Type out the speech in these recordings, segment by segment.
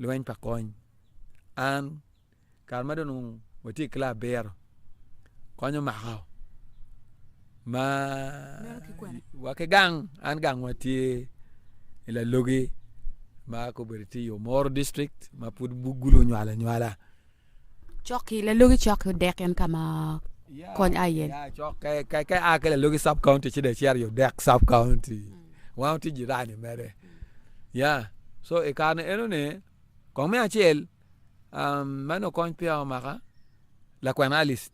lweny pa kony. An kare ma dong onongo watye i kila abiro, kony omaka ma wa ki gang, an gangwa tye i Lalogi ma kobedo tye i Omoro district ma pud gulu nywala nywala. Coki, Lalogi coki odek en ka ma kony aye. Ya cok ke ke ke a ke lalogi sub county ci de ceri odek sub county wango ti jirani mere ya so i kare ni eno ni kong me acel um meno kony peya omaka lakwena Alice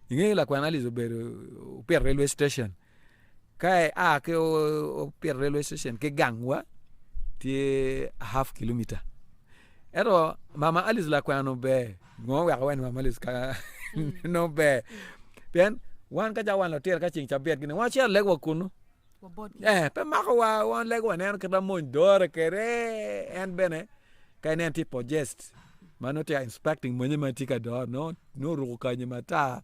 inge lakwena Alice obedo opito railway station Ka aa ki Opyeta Railway Station ki gangwa tye a half kilometer. Ento mama Alice lakwena ober, ngo oweko iwaco ni mama Alice ka nongo ober? Pien wan ka cawa wan lutino ka ceng cabit gini wan wacito lego wa kunu. Eh, pe makowa, wan lego waneno kit ma mony dore kwede. En bene ka ineno tye possessed ma nongo tye ka inspecting mony ma tye ka dore, nongo oruko kanyi matar,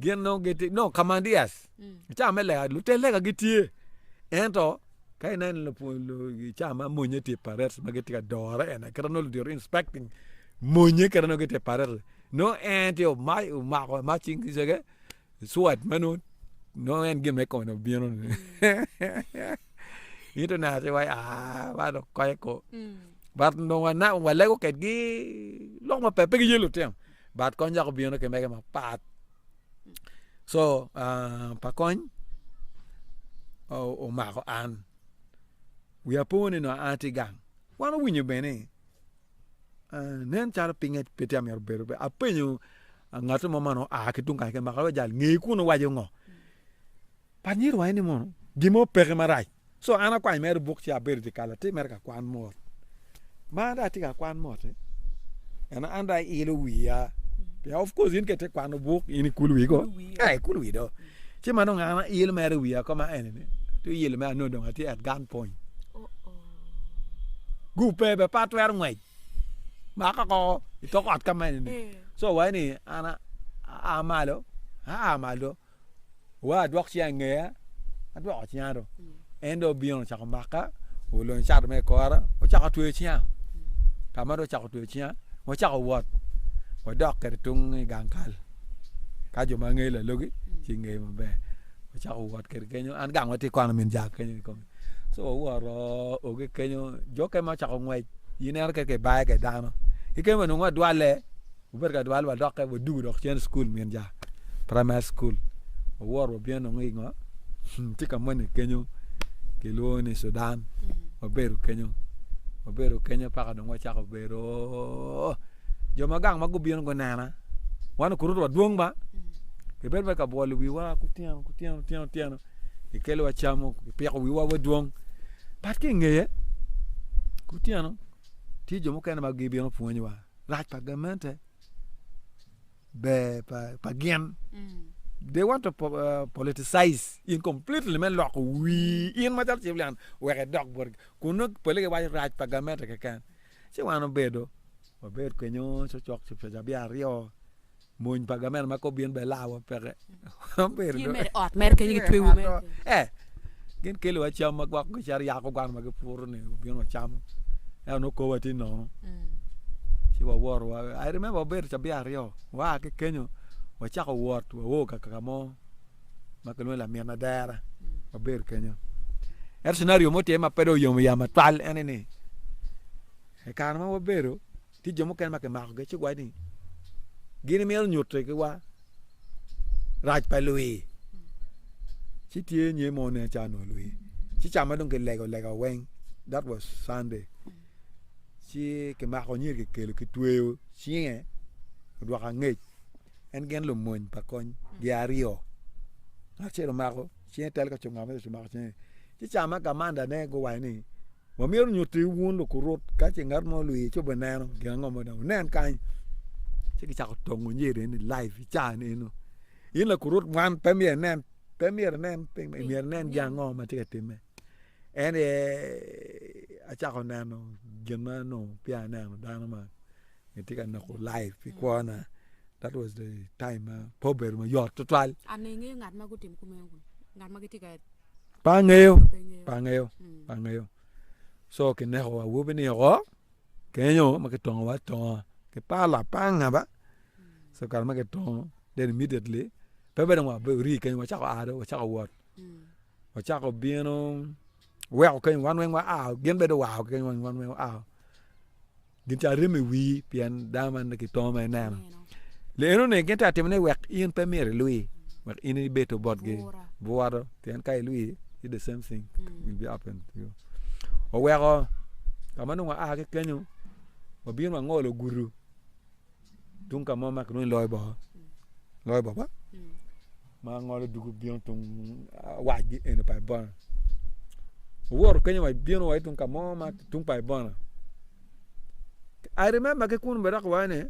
Gin nongo gitye nongo kamandias. I caa me lega, lutel lega gitye. Ento, ka ineno lupwony lu, i caa ma monye tye i parades ma gitye ka dore en aye, kite ma nongo ludito inspecting monye kite ma nongo gitye i parades-ri, nongo en tye oma, omako ma cing kiceke, sword ma nongo, nongo en gin ma i kome nongo bino-ni. In to neno calo iwaco ni aah, man dong kocce koo. But nongo wana, walego kwedgi lok maber, pe giye lutino. But kony cako bino ki mege mapat so uh, pa kony omako an wiya po ni nongo an atye gang wan owinyo bene uh, nen calo pinge pe tye amyero bedo be apenyo uh, ngat mo man oa ki tung kany maka jal ngeye kun owaco ngo Pat myero waye ni mono gin mo peke marac. So an akwany mere buk ci abedo dye kal atir mere ka kwan mot. Ma an dong atye ka kwan mot eh. Eno an dong ailo wiya. Pien of course in kete kwano buk in ikul wi go. Eh ikul wi do. Ci ma dong an ail mere wiya ko ma ene ni. Tu ilo me anongo dong atye at gun point. Gupe be pa twero ngwec. Maka ko itok ot ka ma ene ni. So waye ni an a malo, a malo. Wa adwok cinga i ngeya, adwoko cinga do. En do obino ocako maka, olony cat me kora, ocako tweyo cinga. Ka ma do ocako tweyo cinga, wacako wot, wadok kede tung i gang kal. Ka jo ma ngeyo lalogi, ci ngeyo maber. Wacako wot kede kenyo, an gang watye kwana min jang kenyo i kome. So wawoto oge kenyo, jo kene ma ocako ngwec, ineno kit ka ibaye kwede dano. Ki kene bene nongo adwalle. Wubed ka dwal wadokke wadugu dok cen school min ja primary school wawor wabin nongo i ngo tye ka moni kenyo kilwongo ni Sudan wabedo kenyo wabedo kenyo paka dong wacako bedo jo ma gang ma gubino gunena wan okuruto wa dwong ba kibedo bene ka bwolo wiwa ku tyeno ku tyeno tyeno tyeno kikelo wa cam mo kipiko wiwa wa dwong bat ki ingeye ku tyeno tye jo mukene ma gibino pwonywa lac pa gamente ber pa gin they want to uh, politicize in completely me loko wi in macalo civilian wek edok botgi kun nongo pole giwaco rac pa gamente keken ci wan obedo wabed kenyo cocok cipec abye aryo Mony pa gamena ma kop byen be lawa peke. Gin mere ot mere kenyo gi twewu mere. Eh, gin kelo wa cam ma gwako ki car yako gwano ma gipuro ni obino wa camo. Eh, ono kowa ti nono. Mm. Ci wa woro wa. I remember obedo cabia aryo. Wa ki kenyo wa chako wot wa wo ka kaka mo ma kilwongo lamin na dera. Mm. Wa bedo kenyo. Er scenario mo tye ma pedo oyomo yam atwal ene ni. E kare ma wa bedo Tye jo mukene ma kimakogi ci giwaco ni gin gimito nyuto igiwa rac pa lwi. Ci tye nye mo nen ca onongo lwi. Ci ca ma dong kilego lega weng, that was Sunday. Ci kimako nyer kikelo kitweyo cinge odwoko angec. En gin lumony pa kony gi aryo. Ngat acel omako cinge tel ka cunga ma omako cinge. Ci ca ma kamanda ne guwaco ni Wa myero onyutti wun lukurut ka ce ngat mo olwiyi ci obe neno gin ango ma dong wunen kany, ci gicako tongo nyer eni live i caa ni eno. In lakurut man pe myero inen pe myero inen piny man myero inen gin ango ma tye ka timme. En aye acako neno gin ma nongo peya aneno dano man gitye ka neko live pi kwona that was the time ma pe obedo mayot tutwal. Pe angeyo, pe angeyo, pe angeyo. Co kineko awobi ni oko kenyo ma kitongo wa atonga ki par lapanga ba, so kare ma kitongo then immediately pe bene dong wabe ori kenyo wacako a dong wacako wot, wacako bino weko kenyo wan weng wa a, gin bene dong gua kenyo wan weng wa a. Gin ca rem i wii pien dano ma ki to ma ineno. Le eno ni gin ta timo ni wek in pe myero ilwi wek in ibedo botgi bworo pien ka ilwi it the same thing will be happen to you. Oweko ka ma nongo aa ki kenyo obino wangolo gudu Tung ka mo ma kilwongo ni loyo bor, loyo bor ba ma ngolo dugu bino tung wacgi eno pa Ibona. Owoto kenyo wa bino wa tung ka mo ma tung pa Ibona. I remember ki kunu bene dok iwaco ni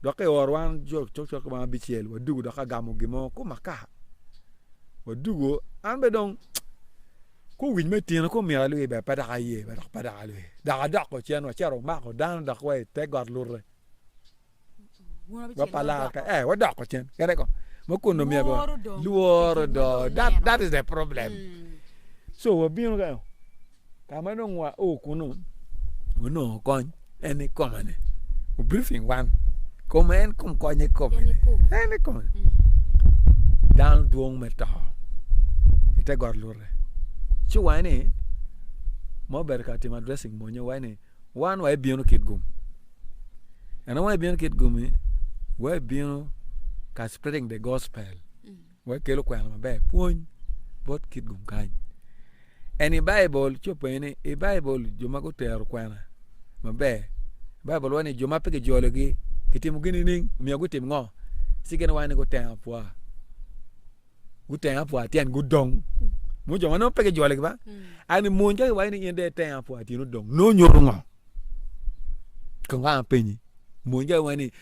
dok ki oro wan cok cok cok ma abicel wadugu dok agamo gin mo ku maka, wadugu an bene dong Ku wic me tino ku omyero alwir ber, pe dok aye, pe dok, pe dok alwir, dok adoko cen wa cito wamako dano dok wa i te got lurre. Wa pa lar kany, ee, wadoko cen, kene kong. Ma kun omyero ba- Lworo dong. lworo Pi gin ma dong, dong that, ineno. that is the problem. Mm. So wabino kany, ka ma dong wao kunu, wanongo kony. En i koma ne. O briefing wan. Koma en kom konye kome. En i kome. Mm. Dano dwong me to. Ite got lure. Ci wae ni ma obedo ka timo addressing monye wae ni wan wae bino kit gum. En wae bino kit gumi wae bino ka spreading the gospel. Mm. Wek kelo kwena maber. Pwony bot kit gum kany. Eni Baibul co pe ni i Baibul jo ma gutero kwena maber. Baibul wacho ni jo ma pe kijologi kitimo gin nining? Omiyo gutim ngo? Ci gin wacho ni guteng apwa. Guteng apwa tyen gudong. Mu jo ma nongo pe kijologi ba. Mm. Ani mony ka kiwacho ni in de teng apwa tyen odong. Nongo nyuto ngo? Kong ka penyi. Mony ka kiwacho ni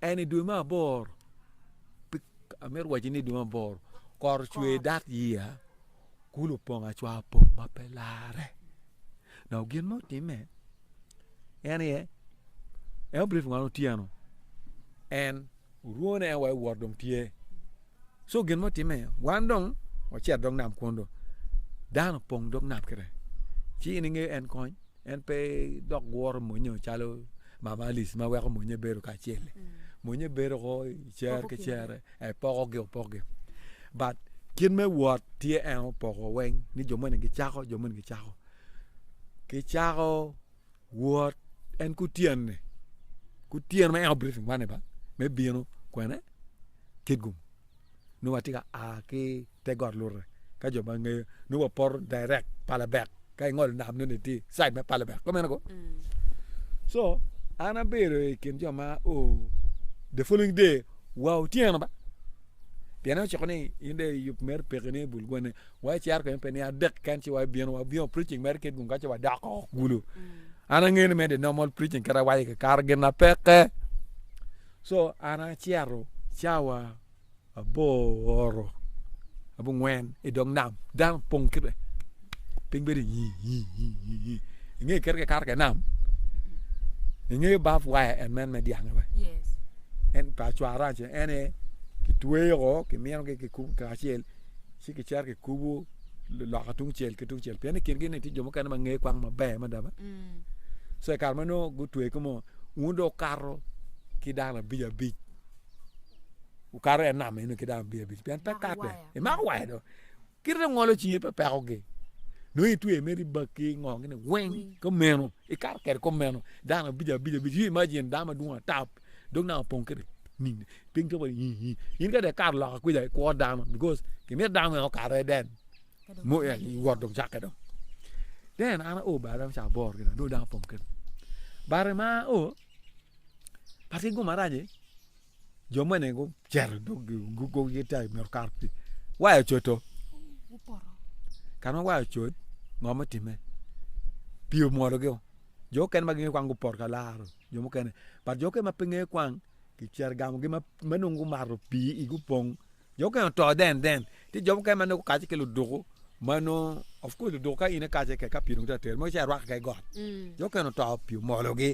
En i dwe me aboro, amito waci ni dwe me aboro, kor ocwe dat year, kulu opong acwa opong ma pe larre. Now gin ma otimme en aye en obrief ngwano otyeno en orwone en wa iwot dong tye So gin mo timme, wan dong wacito dog nam kwon do. Dano pong dog nam kire. Ci in inge en kony, en pe dok gworo monyo calo mama Alice ma weko monye bedo kacel-li. Mm. Monye bedo ko cer ki cere, e pokogi opokogi. But kit me wot tye en opoko weng ni jo moni gicako, jo moni gicako. Gicako Wot en kutyene, kutyeno ma en obito i wane ba, me bino kwene Kitgum. Nongo watye ka a ki te got Lurre, ka jo ma ngeyo, nongo wapoto direct Palebek, ka ingolo nam nongo itye i side me Palebek, ka meno ko? So, an abedo i kin jo ma o the following day wa otyeno ba, pienni en ociko ni in dong iyub meri pekki ni ibul gwenni, wa icero kene pe niang adek ken ci wabino wabino preaching mere kit gun kaci wadok oko kulu an angeyo ni mede normal preaching kit awaco ki kara gin na peke so an acero cawa aboro abungwen i dog nam dano pong kite piny bedo inge kit ke karo ke nam inge baf waya en men me dyang wa en pa cwara en kitweyo ko kimino ki kikubo kacel ci kicito kikubo loka tungcel ki tungcel pien i kingi ni tye jo mukene ma ngeyo kwang maber mada ba so i kare ma nongo gutweyo ki mo un dong wukato ki dano abic abic wukato i nam eno ki dano abic abic pien pe katte imako waya do kite ngolo cinge pe pekogi nongo itweyo mere ibakki ingongo gini weng kumeno ikato kwede kumeno dano abic abic abic you imagine dano madwong ata dong nanga opong kwede Piny pe waco ni in ka dong ikato loka kwica ikwo dano bikos kimito dano mene okato iye den mo en wot dong cakke dong den an ao bati romo caa aboro kene dong dano opong kene bati ma ao atir gin marac ni jo mene gucito idog gugogi tar myero okato pi waya ocodo kare ma waya ocod ngo me time pii omwodo gi o jo mukene ma gingeyo kwan gupoto ka laro jo mukene but jo mukene ma pe ngeyo kwan Gicito gamogi ma ma nongo gumato pii igi opong jo mukene oto then then tye jo mukene ma nongo gukacce ki luduku ma nongo of course luduku ka in ikacce kek ka pii dong tye ka ter mono ci irwak keken i got jo mukene oto pii omologi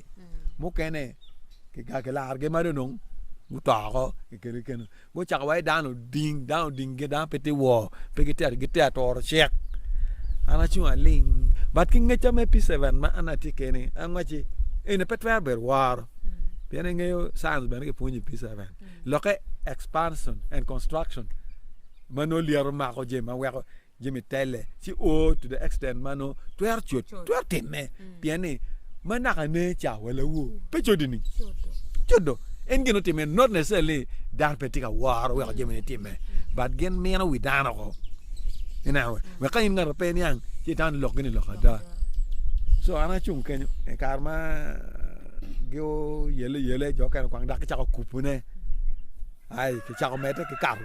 mukene kiga kilarogi ma dong nongo guto oko kiketogi kene Gucako wai dano oding, dano oding gi dano pe ti wor, pe giter giter toro cek. An acung aling, but ki ngeca me P7 ma an atye keni, an wacci eni pe twero bedo woro. Pien ingeyo science bene kipwonyo i P7. Lokke expansion and construction ma nongo lyeto mako jami ma weko jami tele ci o to the extent ma nongo twero cut twero timme pien ni ma naka ne ca wa lawo pe codi ni codo en gin otimme not necessarily dano pe tye ka woro weko jami ne timme but gin mino wi dano ko ineno wa ka in ngato pe niang ci itamo ni lok gini lok ada so an acung kenyo i kare ma gi oyele yele jo mukene kwang dok gicako kubune ai kicako medde kikato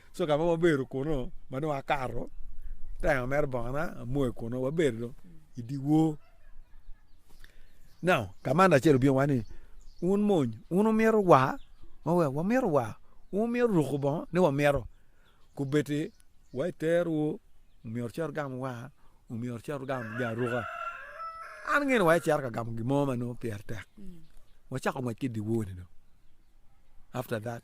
So ka ma wabedo kunu ma dong akato tayo mere bongana amoyo kunu wabedo dong i dyewor. Now ka man acel obino wa ni wun mony wun wumito wa ma wek wamito wa wun wumito ruko bongo ni wamito kubeddi wa iterowu myero wucit wugam wa myero wucit wugam jami aruka an angeyo ni wa icito ka gamo gin mo ma nongo pire tek wacako ngwec ki i dyewor-ni dong after that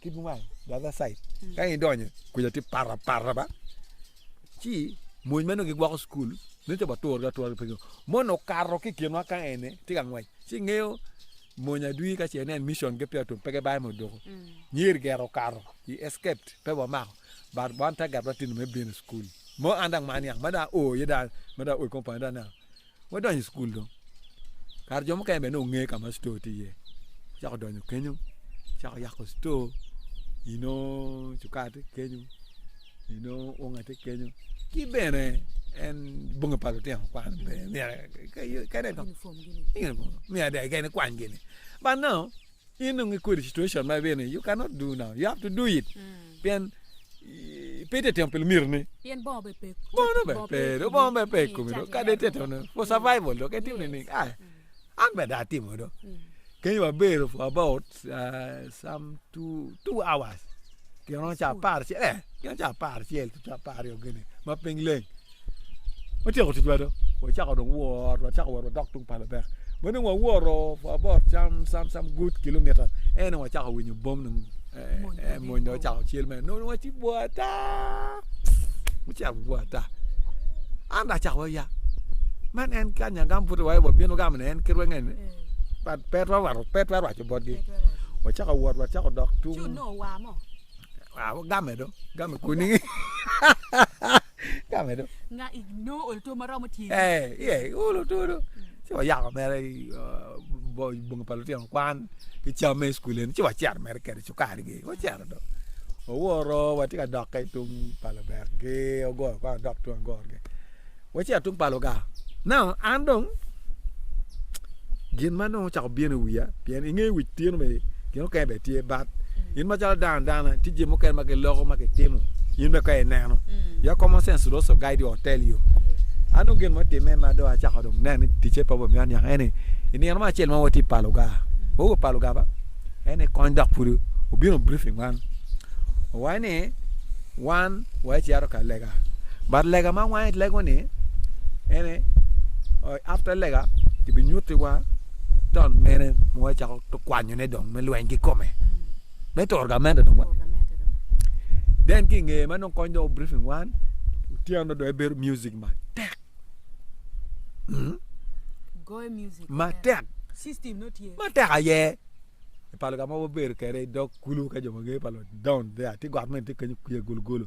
ki dwai dwai side ka i donyo kuja ti para para ba ci mony meno gigwoko cukul ne ci watur ga atura penyo mono okato ki kinwa ka ene ti ka ngwec ci ngeyo mony adwi ka ce nen mission gi pya tum pe ki bayo modoko nyer gero okato i escaped pe wamako but wan target wa tino me bino i cukul mo an dong man niang ma dong aoo iye dong ma dong aoo i compound dong aneno Wadonyo i cukul dong, kara jo mukene bene nongo nge ka ma cito tye iye, acako donyo kenyo, acako yako cito, i nongo cuka tye kenyo, i nongo unga tye kenyo, ki bene en bongi pa lutino kwan bene myero kadi dong myero ada kadi kwany gini but nongo. Inongo i kwede situation ma ibino iye. You cannot do now. You have to do it. Mm. Pien pe itetemo pi lumiro ni. Pien bongo be pe. Bongo be pe. Bongo be pe kumi do. Kade itetemo for survival do. Kati ni ni. Ah. An be da atimo do. Mm. Kenya wabero for about uh, some two, two hours. Gin romo caa apar acel, gin caa apar acel ki apar aryo gini ma piny leng. Watyeko ticwa do, wacako dong wot, wacako wot wadok tung pa Lubek. Ma dong wawoto for about some some some good kilometres ento dong wacako winyo bom dong mony dong ocako cel mere nongo dong waci bwoo ata, waci yabo bwoo ata. An dong acako aya, man en kanya gambutiwa aye wabino gamo ni en ki rwengeni but pe twero rwado pe twero rwaco botgi wacako wot wacako dok tung game do game kuni game do nga igno oluto maromo tye eh ye oluto do ci wayako mere bongi pa lutino kwan ki cam me cukul eni ci wacito mere kede cukari gi wacito do owoto watye ka dokke tung pa lubek gi ogola kong adok tung agor gi Waci atung pa luga. Now, an dong gin ma nongo ocako bino i wiya, pien inge wic tyeno be gin mukene be tye, but mm. in macalo dano dana tye jin mukene ma giloko ma gitimo in be ka ineno. Mm. Your common sense also guide you or tell you. An dong gin mutime ma do acako dong nen ni ticce pa bomiyo an nyaka eni i nino ma acel ma watye pa luga. Mm. Wawe pa luga ba? En ni kony dok pudi obino briefing wan. Owai ni wan wae ci ato ka lega but lega ma wange lego ni en aye after lega kibinyuti wa taun mene ma wacako kwanyo ne dong me lweny ki kome me turo gamente dong wa then ki nge ma dong kony dong briefing wan otyeno dong ebedo music matek hmm? matek matek aye ipalo ka ma wabedo kede dog Kulu ka jo mager pa loc Down there tye got mene tye kenyo kwiye gologolo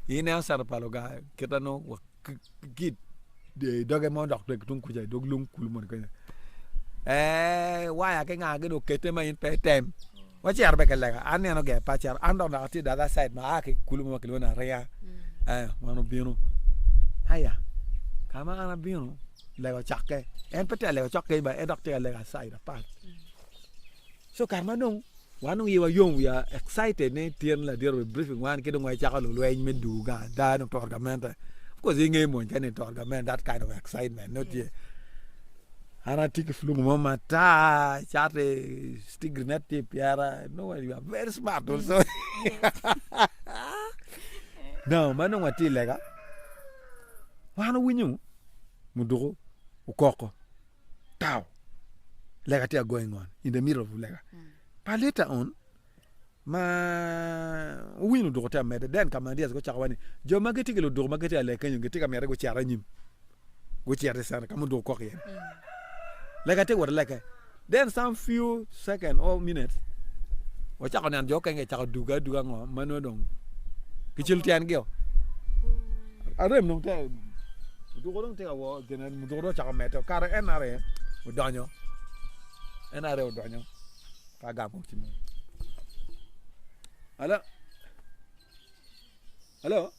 i ineno cato pa loga kite nongo wa ki ki i doge mo dok tweg ki tung kuca i dog lung kulu moni kenyo ee waya ki ngagi dong okete ma in pe item wacito bene ki lega an nino ger pe acito an dong naka atye the other side ma aa ki kulu mo ma kilwongo ni ariya ee wan obino aya ka ma an abino lega ocakke en pe tye ka lega cok keny ba en dok tye ka lega side apat so kare ma dong wan dong iwa yom we are excited ni tyen ladiro obedo briefing wan ki dong wacako lulweny me dwogo gang ada dong to gamente of course inge mony kene to gamente that kind of excitement nongo tye an atye ki flungu mo matar cati stigri ne tye i pyera nongo you are very smart also now ma dong watye i lega wan owinyo muduku okoko tao lega tye going on in the middle of lega mm. but later on ma winy luduko tye amede den ka mandias go cako wani jo ma gitye ki luduko ma gitye alek kenyo gitye ka miyete gucero anyim gucero isana ka muduko kok yen mm. lega tye wot leke then some few second or minutes wacako neno jo kenge cako duga aduga ngo ma nongo dong gicel tyengi o arem nongo te duko dong te awo gin Mudhurwa ocako medde, okato i NRA, odonyo NRA odonyo ka gamo ci mo. Alo? Alo?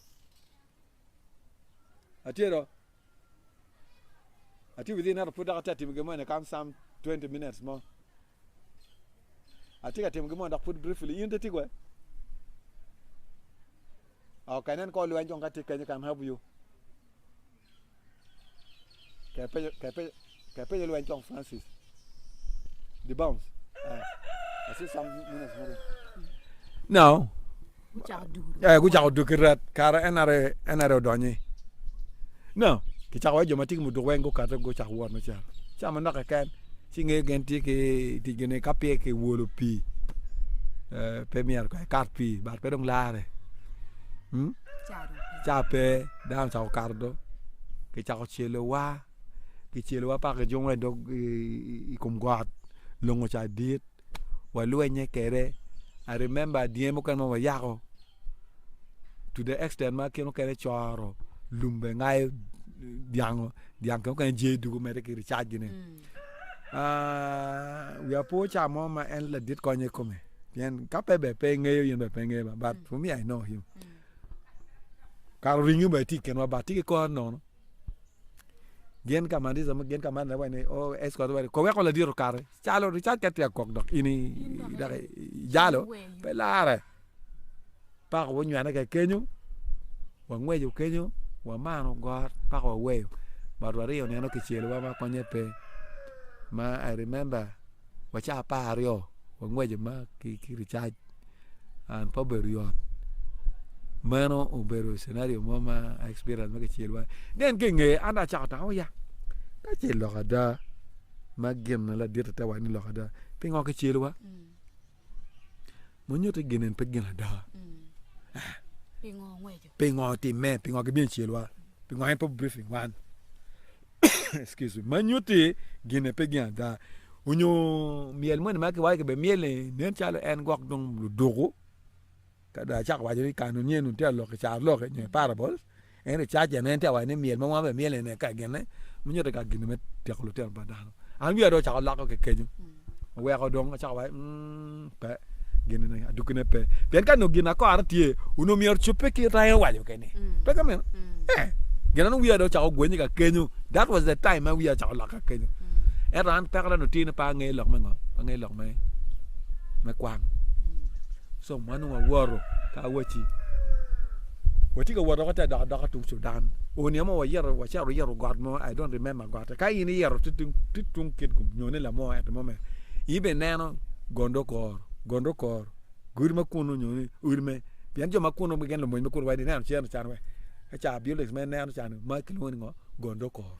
Atye do? Atye within ento pud dok atye atimo gin mo in a come some 20 minutes mo. Atye ka timo gimoni dok pud briefly. In tye kwe? Okay, nen ko lweny kong ka tye kenyo can help you. Kaya penyo, kaya penyo, kaya penyo lweny kong Francis. The bounce. Uh, I see some minutes moving. No. Ee, gucako duk ki ret. Kara en aye, en aye odonyo-ni. No, kicako wai jo ma tye ki muduk weng gukate gucako wot macalo. Ca manok keken, ci ngeyo gin tye ki i ticgi ni ka peya kiwolo pii, ee, pe myero kong ekat pii, bat pe dong larre. Umm, ca pe, dano ocako kato do, kicako celowa, kicelowa paka ki jungo i dog, i, i, i kom got, longo ca dit. walwenye kwede I remember dyeng mukene ma wayako to the extent ma kit mukene coro lum bene ngayo dyango dyang kit mukene jer dwogo medde ki ricac gi ne aah wiya pe oca mo ma en ladit konyo I kome pien ka pe ber pe ingeyo in bene pe ingeyo ba but for me I know him kare oringo bene tye I kinwa but tye ki kore nono. Gin ka man Yecu gin ka man waci ni Yecu koti weri, Kowe ko ladit okati, calo ricat ka tye ka kok dok in dok ijalo pe larre. Paka wunywene kek kenyo, wangweco kenyo, wamano got paka waweyo but wariyo nino kicelowa ma konye pe ma I remember wa ca apar aryo wa ngweco ma ki ricac and pe obedo yot meno obedo cenario mo ma experience ma kicel wa then ki nge an dong acako tango ya ka ce lok ada ma gin ladit ate wacci lok ada pingo kicel wa Munyuto gin en pe gin ada. Pingo timme, pingo gibino celwa, pingo en pe briefing wan. Excuse me. Manyuti gin en pe gin ada. Onyo myel moni ma kiwayo kibe myel ni nen calo en gwok dong luduku. Ka dong acako waco ni kano nyen onongo tye ka lok i carolok-ki nyo i parables, ento i cajjane en tye ka waco ni myel ma wan wamyelo eni eka gine ma nyuto ka gin-ni me tyeko lutino pa dano. An wiya dong ocako loko ki kenyo, oweko dong acako waco ni uumm pe, gin-ni adukkine pe. Pien ka nongo ginakora tye, onongo myero ocobbe kit ma en owaco keni, pe ka meno? Ee, gin eno wiya dong ocako ogwennye ka kenyo. That was the time ma wiya ocako lok ka kenyo. Ento an pekona dong tye ni pe angeyo lok me ngo? Pe angeyo lok. me kwang so mano wawoto ka awaci watye ka woto te dok adoka tung Sudan onyo mo wayito wacito wayito got mo I don't remember gotte ka in iyito tye tung kit kum nyone lamo ento mo mere in bene ineno gondokoro gondokoro godi ma kunu nyo ni odi me pien jo ma kunu keken lumony ma kunu weng ineno cen ocan weng eca buildings ma ineno cani ma kilwongo ni ngo gondokoro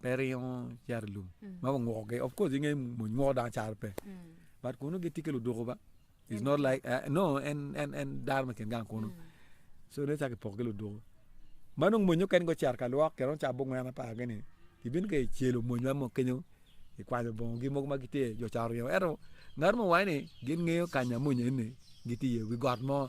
pe ringo cito i lum ma gungukogi of course inge mony nguko dano caro pe but kunu gitye ki luduku ba is not like uh, no en en en dano ma kin gang kunu so ne caki poko ki luduku ma nongo mony oken go cito ka lwok kero ca bungwena pa gini ibino ka icelo mony ma kenyo ikwanyo bongo gi mogo ma gitye jo ca oringo ento ngat mo waci ni gin ngeyo kanya mony eni gitye iye wi got mo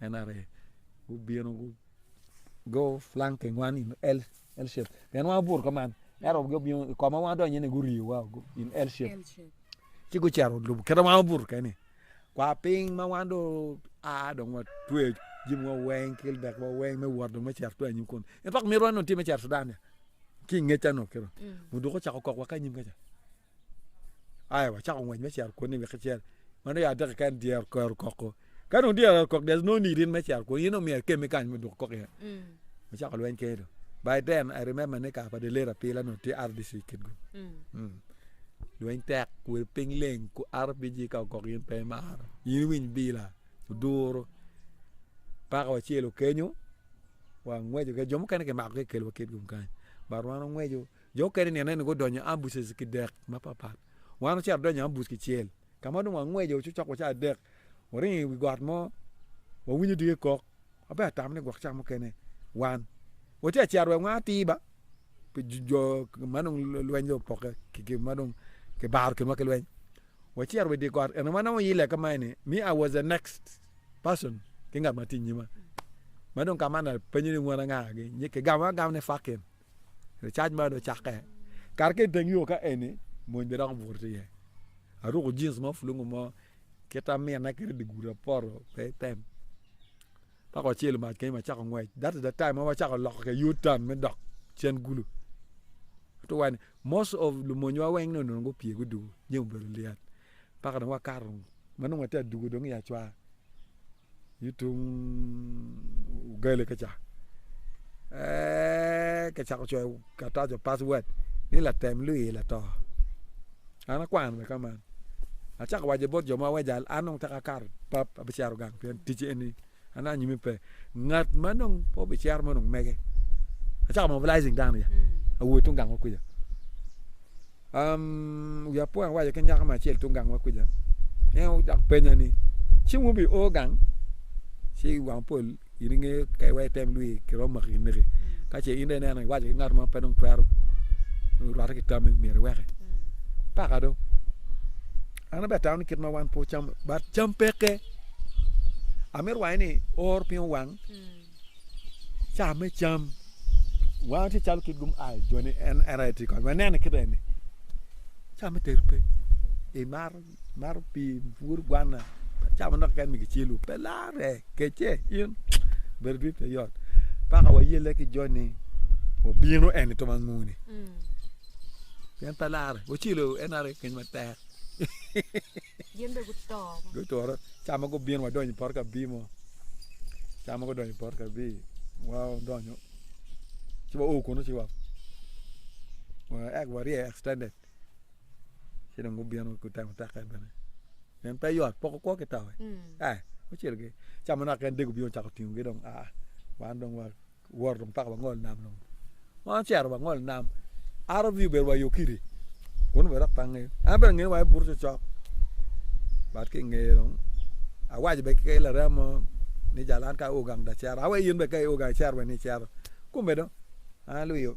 NRA. gubino go flank thing wan in L L shape pien wan obuto ka man ento gubino i koma wan donyo ni guriyo wa in L shape ci gucero lubo kete wan obuto keni kwa piny ma wan do a dong wa tweyo jimi wa weng kil dek wa weng me wot dong me cero tweyo anyim kun in pok mito wan dong tye me cero Sudan ki ingecca no kiro mm. muduku ocako kok wa ka anyim kaca Aya wacako ngwec me cito kwoni wek icel. Man dong ya adek keken dyere oker okoko. Ka dong dyere oker okoko there is no need in me cito kwoni in omyero ikemme kany me duko kok iye. Wacako lweny kene dong. By then I remember ni kare pa dye late apila onongo tye RDC kitgo. Lweny tek kwedo piny leng ku RPG ka ogok in pe imaro, in iwiny bila, oduru. Paka wacelo kenyo wangweco keken jo mukene kimako ki kikelowa kitgum kany but wan wangweco Jo okene ni aneno gudonyo ambuses ki dek mapatpat. Wan ocito adonyo ambus kicel. Ka ma dong wangwejo cokcok wa ca adek, waringo i wi got mo, wawinyo dike kok. An pe atamo ni gwok ca mukene wan watye ka cito wek wang atir ba, pi jo ma dong lweny dong opokke kiki ma dong kibaro kinwa ki lweny. Wacito wa i dye got, ento wanongo oyille ka ma eni, me I was the next person ki ngat ma tye i nyima. Ma dong ka ma an apenyo ni wun anga-gi, kigamo agam ni Fakin. Cac man ocakke kar ki iteng yo ka eni mony bene dok but iye aruku jins mo pulungu mo kit ta mine kit dye gudi apoto pe item dok wacelo mac kenyo wacako ngwec that is the time ma wacako loko ki i uturn me dok cen gulu ento wa ni most of lumonywa weng ni onongo gupye guduku jami obedo lyet mpaka dong wakato ma nongo watye aduku dong iya cwaka I tung ugali kica, ee kicako coyo karatac pa password ni latem luyo ila to. An akwano bene ka man, acako waco bot jo ma aweja an dong tek akato pap abicito gang pien tic eni an anyim pe. Ngat ma dong pe obicero ma onongo mege, acako mobilizing dano ca awot tung gang mo kwica. Wi apwa awaco ki nyako mo acel tung gang wa kwija, en odok penya ni, ci wun wubio o gang? Ci wang pol in inge kay wa item lwii kiromo maki kineki. Ka ce in dong ineno iwaco ki ngat mo pe dong twero rwate ki tammi myero iweke. Paka do. An bene atamo ni kit ma wan pe wacamo, but cam peke. Amito waco ni or piny owang. Caa me cam wan tye calo kit gum a joni en era tye kony wanene kit eni caa me tedo pe imar mar pii pur gwana caa manok keken ma kicelu pe larre kece in bedo dit pe yot paka wayelle ki joni obino eni tong ango ni pien pe larre wacelu en aye keny matek. Gin bene guto. Gutore. Ca ma gubino wadonyo i poto ka bii mo. Ca ma gudonyo i poto ka bii, wadonyo. Ci wa o kunu ci wa. Ek warye extended. Ci dong gubino gutemo teke bene. Nen pe yot, poko kwo ki tawe. Mm. Eh, ocel gi. Ca ma naka en dego bino cako tingo gi dong. Ah, wan dong wa. Wot dong paka wangol nam dong. Wan ocito wangol nam. RV obedo wa i Okiri kun obedo dok pe angeyo. En abedo ngeye wa i buto cokcok. But ki ingeye dong awaco bene ki laram mo ni jalo an ka aor gang dong acito. Awaco in bene ka ior gang icito wene icito. Kome dong an alwiyo.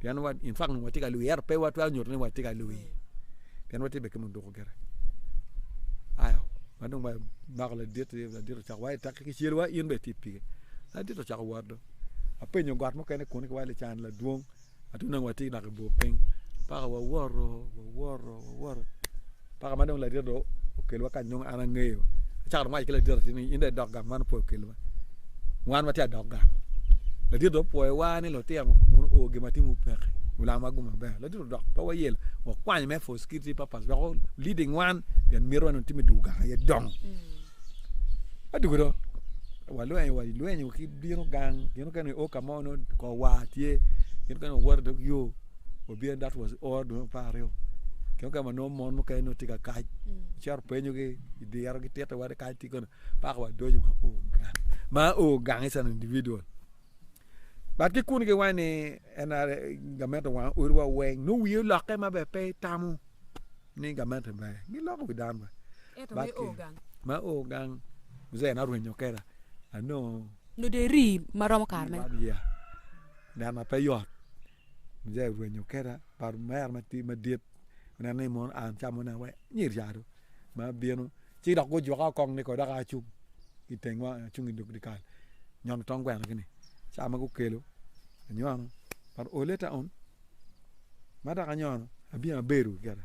Pien wa, in fact onongo watye ka lwii, ento pe watwero nyuto ni watye ka lwii, pien watye bene ki muduku gire. Aya, ma dong bako ladit, ladit ocako wayo tek ki cel wa, in bene itye pige. Ladit ocako wot dong. Apenyo got mukene kunu ki wai lican ladwong, ma dong onongo watye dok i bur piny. Paka wawoto, wawoto, wawoto. Paka ma dong ladita dong okelwa kany nongo an angeyo. Acako dong waco ki ladita ti ni in dong idok gang man opwoyo kelwa. Wan watye adok gang. Ladita dong opwoyowa ni lutino wun oo gin ma timwu peke. Mulam wagu maber. Ladita odok pe wayelo. Wakwanyo me for security purpose wek o leading wan pien miti wan otim i dul gang aye dongo. Adugo do walwenyo walwenyo ki bino gang gin mukene nio ka mo nio kor war tye gin mukene wawoto idog yo. wabyen that was all dwe apar aryo kene ka ma nongo mon mukene nongo tye ka kac cito penyogi i diro ki tito wade kac tye kono paka wa dojo ma o gang ma o gang is an individual bat ki kuni giwaco ni NRA gamente owango otiwa weng nongo wiye olokke ma ber pe itamo ni gamente ber giloko wi dano bene Ento me o gang. ma o gang muzee en arwenyo kweda anongo Noderi ma romo kare mene. one year neno pe yot Mujee orwenyo keta pa mer madit oneno ni mono a mucamo ne wek nyer ca dong ma bino ci dok gujuka kong ni dok a cung itengwa acung idog dikal nyom tong gweno gini ca ma gukelo anyono but ole ta on ma dok anyono abino abedo gikene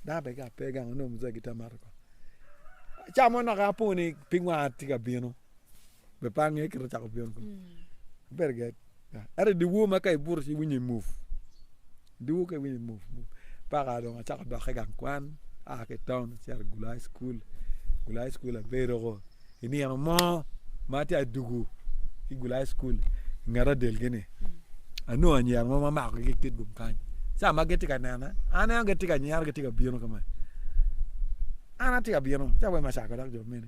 dano abe ki ape gang onongo mujee gitye ka mato kong acamo naka aponi pig wanga tye ka bino. be pe ange kit acako pyon kong very good ento dyewo ma ka ibuto ci iwinyo imuf dyewo ka iwinyo imuf paka dong acako dokke gang kwan aa ki itaun acito gulu high school gulu high school abedo ko inino mo ma atye adugu ki gulu high school inget adel gi ni anongo anyira mo ma makogi ki itet lum kany ca ma gitye ka nena aneno gitye ka nyero gitye ka bino ka ma an atye ka bino ca wai me cako dok jo mene.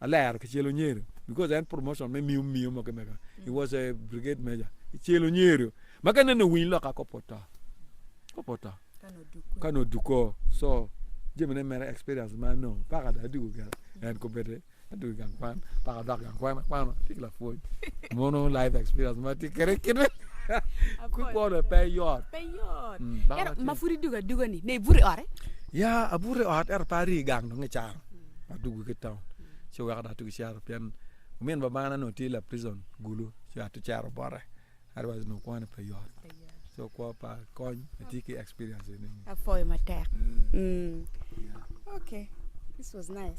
Alero ki celo nyerio because en promotion me miyo miyo mo kimega he was a brigade major ki celo nyerio ma ka nene owiny loka kop oto kop oto ka nongo oduko so jamine mere experience ma nongo paka dong adiko gire en kong bedi adoko i gang kwan paka adok gang kwan akwano atye ki lapwony mono life experience ma atye kwede kit meno kit kwo-ni pe yot Pe yot. Mm, baka Ento tye. ma pud idugo aduga-ni, ne ibuto i ote? ya abuto i ot ento pe arii i gang dong icaro Adwogo ki i taun ci weko dong atye ki cito pien omin babana onongo tye lapricon gulu ci atye cito bote otherwise onongo kwan-ni pe yot so kwo pa kony atye ki experience eni. Apwoyo matek. Mm. Okay. This was nice.